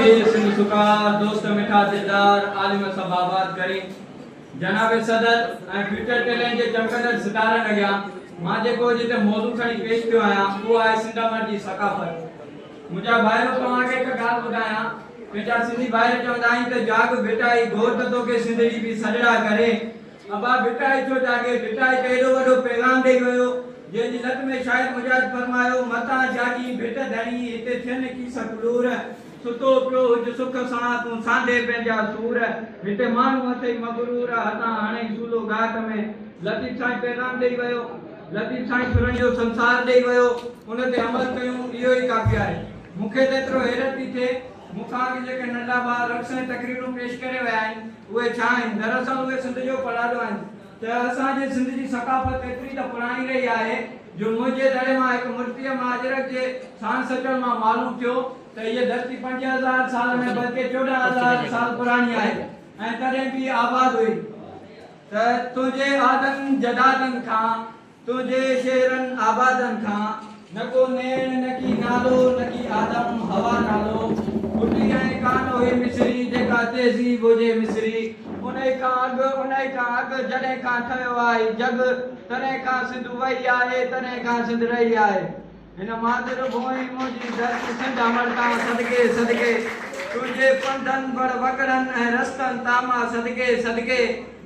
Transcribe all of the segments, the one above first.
اي سنڌ سکا، دوست مٺا دلدار، عالم سڀ آباد ڪرين. جناب صدر ۽ فيوچر ٽيلنٽ جي چمڪندڙ ستارن اڳيان مان جيڪو اڄ هتي موضوع کڻي پيش ٿيو آهيان اهو آهي سنڌ امر جي ثقافت. منهنجا ڀائرو توهان کي هڪ ڳالهه ٻڌايان پنهنجا سنڌي ڀائر چوندا آهن ته جاڳ ڀٽائي گهور ته توکي سنڌڙي به سڏڙا ڪري ابا ڀٽائي ٿيو جاڳي. ڀٽائي ته ايڏو وڏو پيغام ڏئي ويو، جنهن جي لٽ ۾ شاعر مجاهد فرمايو، متان جاڳين ڀٽ ڌڻي، هتي ٿين کيس ڪلور. ستو پيو هج سک سان، تون سانڍي پنهنجا سور، هتي ماڻهو اٿئي مغرور، هتان هڻئي سولو ڳاٽ ۾. لطيف سائين پيغام ڏئي ويو. لطيف سائين سرن جو سنسار ڏئي ويو، ان تي عمل ڪيون، اهو ئي ڪافي آهي. مون کي ته ايترو حيرت پئي ٿئي، مون کان اڳ جيڪي ننڍا ڀاء رقص ۽ تقريرون پيش ڪري ويا آهن، اهي ڇا آهن؟ دراصل اهي سنڌ جو پڙاڏو آهن ته اسان جي سنڌ جي ثقافت ايتري ته پراڻي رهي آهي جو منهنجي دڙي مان هڪ مرتيه مهاجرڪ جي ساڻ سٽڻ مان معلوم ٿيو ته هيء ڌرتي پنج هزار سال نه بلڪه چوڏهن هزار سال پراڻي آهي ۽ تڏهن به آباد هئي ته تنهنجي آدن جدادن کان تنهنجي شهرن آبادن کان نه ڪو نيڻ، نڪي نالو، نڪي آدم هوا نالو ڦٽي ۽ ڪان اهي مصري جيڪا تهذيب هجي مصري. انهي کان اڳ، انهي کان اڳ جڏهن کان ٺهيو آهي جڳ، تڏهن کان سنڌ وئي آهي، تڏهن کان سنڌ رهي آهي. هن مادر ڀونء منهنجي درد سنڍ امڙتان صدقي صدقي تنهنجي پنڌن بڙ وڳڙن ۽ رستن تاما صدقي صدقي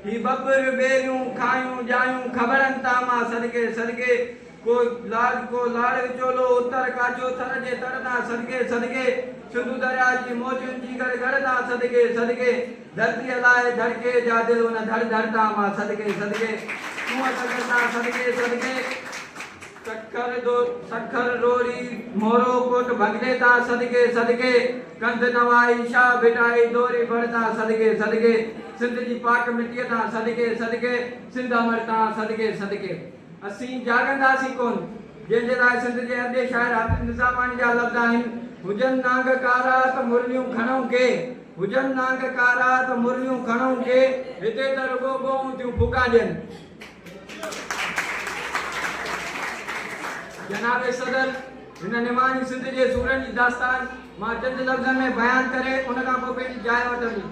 هي ٻٻر ٻيريون کاهيون ڄايون کٻڙن تاما صدقي صدقي ڪو لاڙ ڪو لاڙ وچولو اتر ڪاڇو ٿر جي تڙ تان صدقي صدقي سنڌو درياء جي موجن جي گڙ گڙ تان صدقي صدقي ڌرتيء لاء ڌڙڪي جا دل ان ڌڙ ڌڙ تاما صدقي صدقي تون اتر ڪر تان صدقي صدقي. سکر دو سکر روري مورو ڪوٽ ڀڳني تا صدقي صدقي ڪنڌ نوائي شاهه ڀٽائي دوري بڙ تان صدقي صدقي سنڌ جي پاڪ مٽيء تان صدقي صدقي سنڌ امڙ تان صدقي صدقي اسين جاڳنداسين ڪون جنهن جي لاء سنڌ جي ادبي شاعر حافظ نظاماڻي جا لفظ آهن هجن نانگ ڪارا ته مرليون کڻئون ڪي هجن نانگ ڪارا ته مرليون کڻئون ڪي هتي ته رڳو ڳوئون ٿيون ڦوڪا ڏين. جناب صدر هن نماڻي سنڌ جي سورن جي داستان مان چند لفظن ۾ بيان ڪري ان کان پوء پنهنجي جاء وٺندي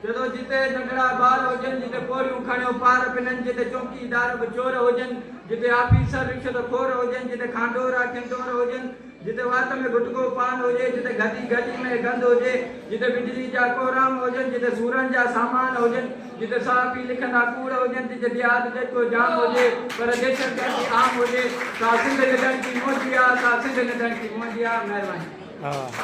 چئي ٿو جتي ننڍڙا ٻار هجن جتي پورهيون کڻيو پار پنن جتي چوڪيدار به چور هجن جتي آفيسر رشوت خور هجن جتي کانڊورا کنڊور هجن جتي وات ۾ گٽڪو پان هجي، جتي گدي گلي ۾ گند هجي، جتي بجلي جا ڪوهرام هجن، جتي سورن جا سامان هجن، جتي صحافي لکندا ڪوڙ هجن، جتي ديهات جيترو جام هجي پر دهشتگردي عام هجي، سا سنڌ نه ڏڻڪي منهنجي آ، سا سنڌ نه ڏڻڪي منهنجي آ. مهرباني.